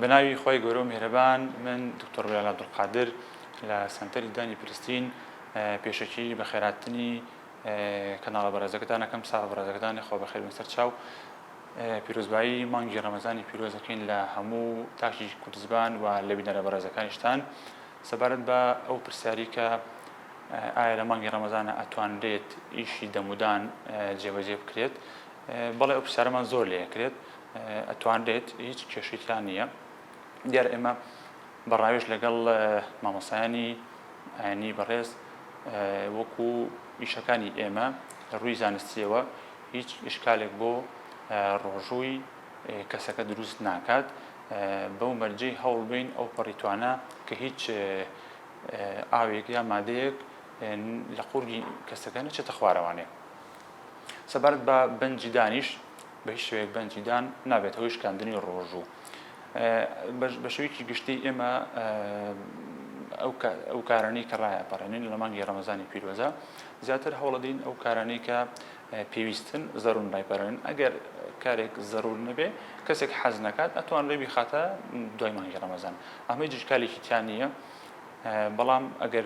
بەناوی خوای گەورەو میهرەبان من دکتۆر بلال عبدالقادر لە سەنتەری ددانی فلستین پێشەکیی بەخێرهاتنی کەناڵە بەڕێزەکەتان ئەکەم ساغ بەڕێزەکەتان خوا بەخێر بێن سەر چاو پیرۆزبایی مانگی ڕەمەزانی پیرۆز دەکەین لە هەموو تاکی کوردزبان و لە بینەرە بەڕێزەکانیشتان سەبارەت بە ئەو پرسیاری کە ئایا لە مانگی ڕەمەزانە ئەتوانرێت ئیشی دەمودان جێبەجێ بکرێت بەڵێ ئەو پرسیارەمان زۆر لێ ئەکرێت ئەتوانرێت هیچ کێشەی تیا نییە دیار ئێمە بە ڕاوێژ لەگەڵ مامۆسایانی ئاینی بەڕێز وەکو ئیشەکانی ئێمە لە ڕووی زانستیەوە هیچ ئشکالێک بۆ ڕۆژووی کەسەکە دروست ناکات بەو مەرجەی هەوڵ بین ئەو پەڕیتوانە کە هیچ ئاوێک یا مادەیەک لە قورگی کەسەکە نەچێتە خوارەوانێ سەبارەت بە بەنجی دانیش بە هیچ شوەیەک بەنجی دان نابێت هەوی شکاندنی ڕۆژوو بە شوێکی گشتی ئێمە ئەو کارانەی کە ڕایە پەڕێنین لە مانگی ڕەمەزانی پیرۆزە زیاتر هەوڵەدین ئەو کارانەی کە پێویستن زەرون ڕایپەرێن ئەگەر کارێک زەرور نەبێ کەسێک حەز نەکات ئەتوان ڕێبی خاتە دوای مانگی ڕەمەزان ئەمەی جشکالێکی تیان نییە بەڵام ئەگەر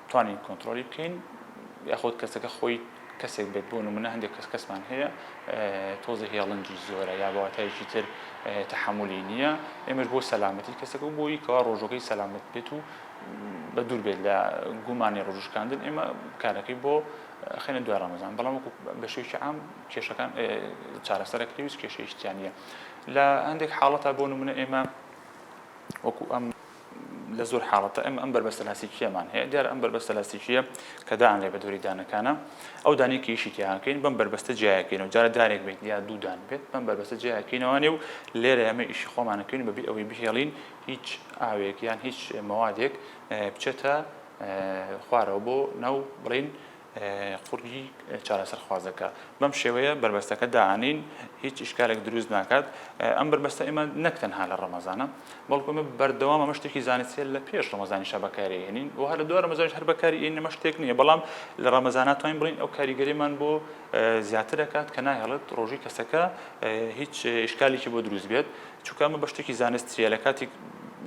توانین کۆنتڕۆلی بکەین یاخود کەسەکە خۆی کەسێک بێت بۆ نمونە هەندێک کەس کەسمان هەیە تۆزە هێڵنجی زۆرە یا بەواتایەکی تر تحملی نییە ئێمەش بۆ سەلامەتی کەسەکە و بۆی کەوا ڕۆژەکەی سەلامت بێت و بە دوور بێت لە گومانی ڕۆژشکاندن ئێمە کارەکەی بۆ خێنە دوای ڕەمەزان بەڵام وەکو بە شێوکی عام کێشەکان چارەسەرەکەی هیچ کێشەیشتیان نیە لە هەندێک حاڵەتە بۆ نمونە ئێمە وەکو ئەم لە زۆر حاڵەتە ئێمە ئەم بەربەستە لاستیکیەمان هەیە دیار ئەم بەربەستە لاستیکیە کە دانرێ بە دووری دانەکانە ئەو دانێکی یشی تیاکەین بەم بەربەستە جیاکەین و جارە دارێک بێت یا دوودان بێت بەم بەربەستە جیاکەینەوانێ و لێرە ئەمە ئیشی خۆمانەکەین بەبی ئەوەی بهێڵین هیچ ئاوێک یان هیچ مەوادێک بچێتە خوارەوە بۆ ناو بڵین قوڕگی چارەسەرخوازەکە بەم شێوەیە بەربەستەکە داهانین هیچ ئیشکالێک دروست ناکات ئەم بەربەستە ئێمە نەک تەنها لە ڕەمەزانە بەڵکو ئەمە بەردەوام ئەمە شتێکی زانستیە لە پێش ڕەمەزانی شە بەکارێنین و هەر دووارە مەزانش هەر بەکاری ئین نەمە شتێک نییە بەڵام لە ڕەمەزاناتوانین بڵین ئەو کاریگەریمان بۆ زیاتر دەکات کە ناهێڵێت ڕۆژی کەسەکە هیچ ئیشکالێکی بۆ دروست بێت چونکە ئەمە بە شتێکی زانستیە لە کاتی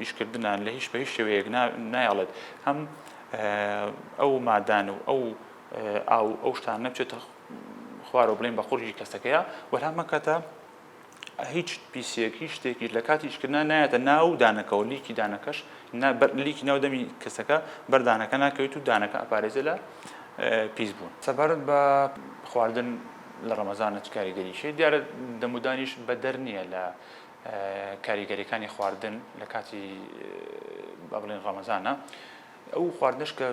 ئیشکردنان لە هیچ بە هیچ شێوەیەک نایڵێت هەم ئەو مادان و ئەو ئاو و ئەو شتانە بچێتە خوارەوە بڵێن بە قورگی کەسەکەیە و هەمان کاتە هیچ پیسێک هیچ شتێکیش لە کاتی ئیشکردنا نایەتە ناو دانەکەەوە لیکی دانەکەش لیکی ناو دەمی کەسەکە بەردانەکە ناکەوێت و دانەکە ئەپارێزە لە پیس بوون سەبارەت بە خواردن لە ڕەمەزانە چ کاریگەریشی دیارە دەمودانیش بەدەر نییە لە کاریگەریەکانی خواردن لە کاتی با بڵێن ڕەمەزانە ئەو خواردنش کە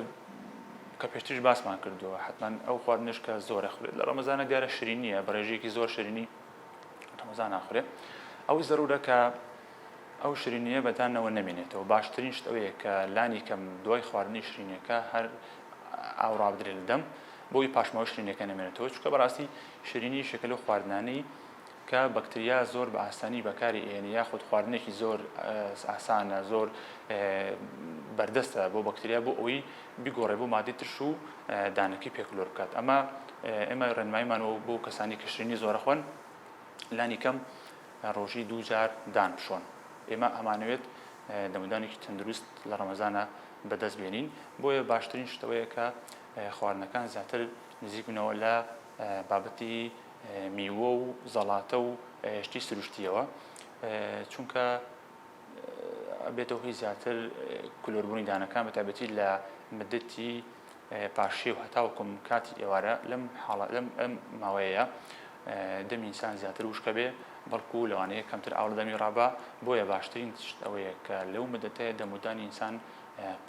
کە پێشتریش باسمان کردووە حتمما ئەو خواردنش کە زۆرە خورێت لە ڕەمەزانە دیارە شرینیە بەڕێژێکی زۆر شرینی ڕەمەزان ناخورێت ئەو زەرورە کە ئەو شرینیە بەدانەوە نەمێنێتەوە باشترین شت ئەوەیە کە لانی کەم دوای خواردنی شرینەکە هەر ئاوڕابدرێت دەم بۆی پاشماوە شرینەکە نەمێنێتەوە چکە بەڕاستی شرینی شەکەل و خواردنانی کە بەکتریا زۆر بە ئاسانی بەکاری ئەهێنێ یاخود خواردنێکی زۆر ئاسانە زۆر بەردەستە بۆ بەکتریا بۆ ئەوی بیگۆڕێ بۆ مادەی ترش و دانەکەی پێ کلۆر بکات ئەمە ئێمە ڕێنمایمان و بۆ کەسانی کە شرینی زۆرە خوۆن لانی کەم ڕۆژی دوو جار دان بشۆن ئێمە ئەمانەوێت دەمودانێکی تەندروست لە ڕەمەزانە بەدەست بێنین بۆیە باشترین شتەوەیە کە خواردنەکان زیاتر نزیک بنەوە لە بابەتی میوە و زەڵاتە و شتی سروشتیەوە چونکە بێتەوە هی زیاتر کلۆربوونی دانەکان بە تابەتی لە مدەتی پاشێ و هەتاوکم کاتی ئێوارە لەم حاڵە لەم ئەم ماوەیە دەمینسان زیاتر وشکە بێ بەڵکو لەوانەیە کەمتر ئاڵ دەمی ڕابا بۆیە باشترین تشت ئەوەیە کە لەو مدەتەیە دەمودانی ئینسان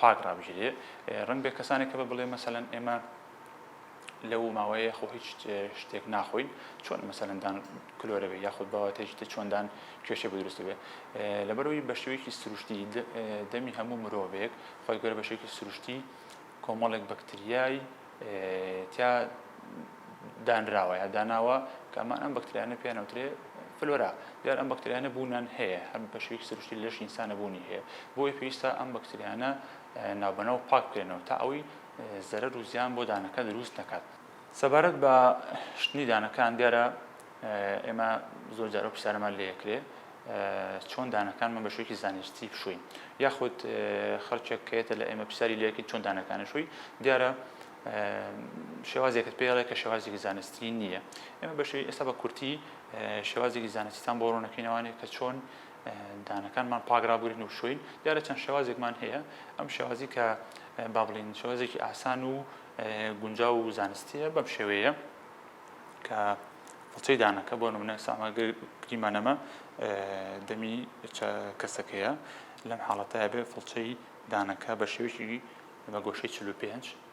پاک ڕابژێ ڕنگ بێ کەسانێک کە بە بڵێ مەسەەن ئێمە لەو ماوەیە خۆ هیچ شتێک ناخۆین چۆن مەسەندان کلۆرە بێ یاخود باوەتێک تە چۆندان کێشە بدرست بێ لەبەرەوەی بە شێوەیەکی سروشتی دەمی هەموو مرۆڤێک خۆی گەر بە شێوکی سروشتی کۆمەڵێک بەکتریای تیا دانراوە یا داناوە کەمان ئەم بەکتریانە پێیانوترێ فلۆرا دیار ئەم بەکتریانە بوونان هەیە هەم بە شێوکی سروشتی لەش ئینسانە بوونی هەیە بۆی پێویستە ئەم بەکتریانە ناوبەنەوە پاک بکرێنەوە تا ئەوی زەرەر و زیان بۆ دانەکە دروست نەکات. سەبارەت بە شتنی دانەکان دیارە ئێمە زۆر جارە پرسیارەمان لێ کرێ چۆن دانەکانمان بە شوێکی زانستی بشوین یاخود خەڵکێک کەێتە لە ئێمە پرسیاری لەکن چۆن دانەکانە شووی دیارە شێوازێکت پێڵێ کە شێوازێکی زانستی نییە ئێمە بەشی ئێستا بە کورتی شێوازێکی زانستیتان بۆ ڕوونەکەینەوانێت کە چۆن دانەکانمان پاک ڕابگرین و شوین دیارە چەند شێوازێکمان هەیە ئەم شێوازی کە با بڵین شێوازێکی ئاسان و گونجا و زانستیە بەم شێوەیە کە فڵچەی دانەکە بۆ نمونە سامە گریمانەمە دەمی کەسەکەیە لەم حاڵەتە بێ فڵچەی دانەکە بە شێوێکی بە گۆشەی 45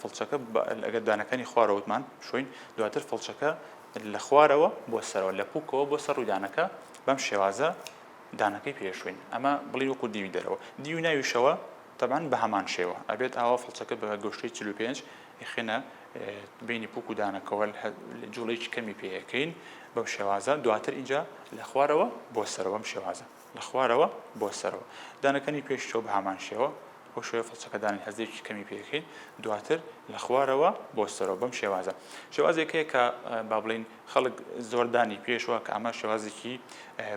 فڵچەکە لەگەڵ دانەکانی خوارەوە وتمان شۆین دواتر فڵچەکە لە خوارەوە بۆ سەرەوە لە پوکەوە بۆ سەر ڕوودانەکە بەم شێوازە دانەکەی پێشوین ئەمە بڵی وەکو دیوی دەرەوە دیو ناویشەوە تەبان بە هەمان شێوە ئەبێت ئاوا فڵچەکە بە گۆشتی 45 یخێنە بینی پوک و دانەکەەوە جوڵێکی کەمی پێەکەین بەم شێوازە دواتر اینجا لە خوارەوە بۆ سەرەوەم شێوازە لە خوارەوە بۆ سەرەوە دانەکەنی پێش چاو بەهامان شێوە بەو شێوەیە فڵچەکە دانێن هەزێکی کەمی پێ کەین دواتر لە خوارەوە بۆ سەرەوە بەم شێوازە شێوازێک هەیە کە با بڵین خەڵک زۆر دانی پێشوە کە ئەمە شێوازێکی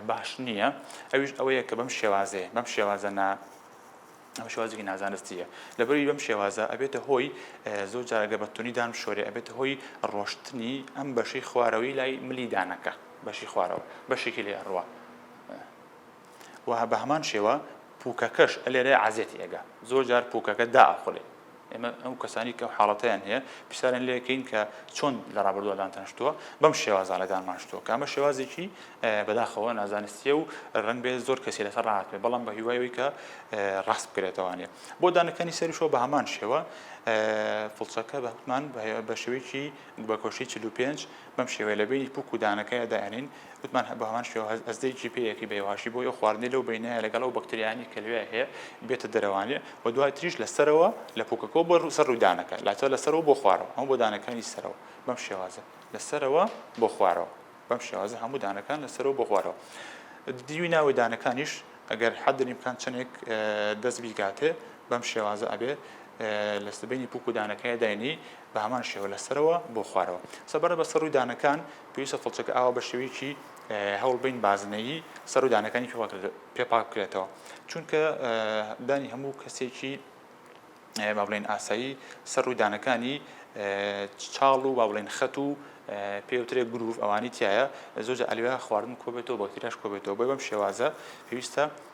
باش نییە ئەویش ئەوەیە کە بەم شێوازێ بەم شێوازە نا ئەمە شوازێکی نازانستیە لەبەری بەم شێوازە ئەبێتە هۆی زۆر جارەگە بەتونی دام شۆری ئەبێتە هۆی ڕۆشتنی ئەم بەشی خوارەوەی لای ملی دانەکە بەشی خوارەوە بەشێکی لێ ئەڕوە و بە هەمان شێوە پووکەکەش لێرە عەزێتی ئەگا زۆر جار پووکەکە داخڵێ ئێمە ئەو کەسانی کە حاڵەتیان هەیە پرسیارن لێکەین کە چۆن لە ڕابردووەدان تەنشتووە بەم شێوازانەدان ماشتووە کامە شێوازێکی بەداخەوە نازانستیە و ڕنگ بێت زۆر کەسی لەسەر ڕاتێ بەڵام بە هیوایەوەی کە ڕاست بکرێتوانێت بۆ دانەکانی سەرشەوە بە هەمان شێوە فڵچەکە بەمان بە شێوەیەکی بەکۆشی 45 بەم شێوەیە لە بەینی پووک و دانەکەیا دایانێین، وتمان بە هەمان شێوە هەستدەی جیپێیەکەی بە یەواش بۆی ئەو خواردنەی لەو بەینەیا لەگەڵ ئەو بەکتریایانەی کە لەوێیا هەیە بێتە دەرەوانێ و دوای تریش لە سەرەوە لە پووکەکەوە بۆ سەر ڕووی دانەکە لاتە لە سەرەوە بۆ خوارەوە ئەمە بۆ دانەکانی سەرەوە بەم شێوازە لە سەرەوە بۆ خوارەوە بەم شێوازە هەموو دانەکان لە سەرەوە بۆ خوارەوە دیوی ناوی دانەکانیش ئەگەر حەدری بکان چەندێک دەست بیگاتێ بەم شێوازە ئەبێ لە سبینی پووک و دانەکەی داینی بە هەمان شێوە لە سەرەوە بۆ خوارەوە سەبارە بە سەرو دانەکان پێویستە فڵچەکە ئاوا بە شێوەیەکی هەوڵ بین بازنەیی سەرو دانەکانی پێ پاک بکرێتەوە چونکە دانی هەموو کەسێکی با بڵێن ئاسایی سەر و دانەکانی چاڵ و با بڵێن خەت و پێوترێ گروڤ ئەوانی تایە زۆجە ئەلوێ خواردن کۆبێتەوە بەکتریاش کۆبێتەوە بۆی بەم شێوازە پێویستە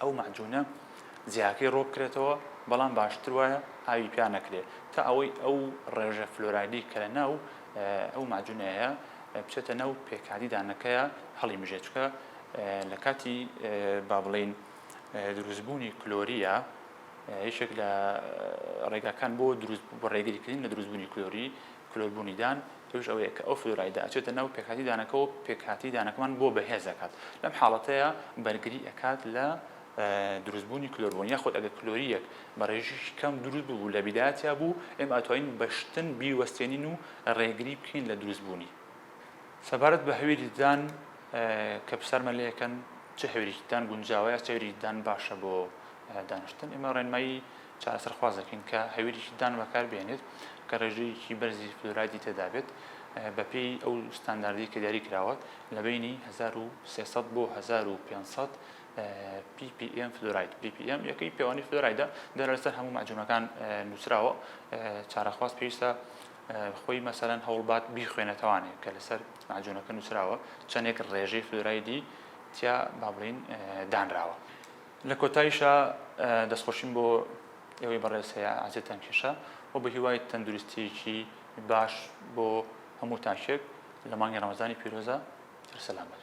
ئەو مەعجونە جیاکەی ڕۆ بکرێتەوە بەڵام باشتر وایە ئاوی پیا نەکرێ تا ئەوەی ئەو ڕێژە فلۆرایدی کە لە ناو ئەو مەعجونەیە بچێتە ناو پێکهاتی دانەکەیە هەڵی مژێ چکە لە کاتی با بڵین دروستبوونی کلۆریە یەکێک لە ڕێگاکان بۆ دروست بۆ ڕێگریکردن لە دروستبوونی کلۆری کلۆربوونی دان، ئەویش ئەوەیە کە ئەو فلۆرایدە ئەچێتە ناو پێکهاتەی دانەکەوە و پێکهاتەی دانەکەمان بۆ بەهێز ئەکات، لەم حاڵەتەیا بەرگری ئەکات لە دروستبوونی کلۆربوون، یاخود ئەگەر کلۆرییەک بە ڕێژیکی کەم دروست ببوو لە بیدایەتیا بوو، ئێمە ئەتوانین بە شتن بیوەستێنین و ڕێگری بکەین لە دروستبوونی. سەبارەت بە هەویری دان کە پرسیارمان لێ ئەکەن چ هەویرێکی دان گونجاوە یا چ هەویرێکی دان باشە بۆ دانیشتن، ئێمە ڕێنمایی. چارەسەرخواز دەکەین کە هەویرێکی دان بەکار بێنێت کە ڕێژەیەکی بەرزی فلورایدی تێدابێت بەپێی ئەو ستانداردی کە دیاری کراوە لە بینی 1300 بۆ 1500 PPM فلوراید PPM یەکەی پێوانی فلورایدە دەرە لەسەر هەموو مەجوونەکان نووسراوە چارەخواست پێویستە خۆی مەسەرەن هەوڵبات بیخوێنەتەوانێ کە لەسەر ماجوونەکە نووسراوە چەندێک ڕێژەی فلورایدی تیا با بڵین دانراوە. لە کۆتایشا دەستخۆشیم بۆ ئێوەی بەڕێز هەیە عزێتان کێشا و بە هیوای تەندروستیەکی باش بۆ هەموو تاکێک لە مانگی ڕەمەزانی پیرۆزە هەر سەلامەت.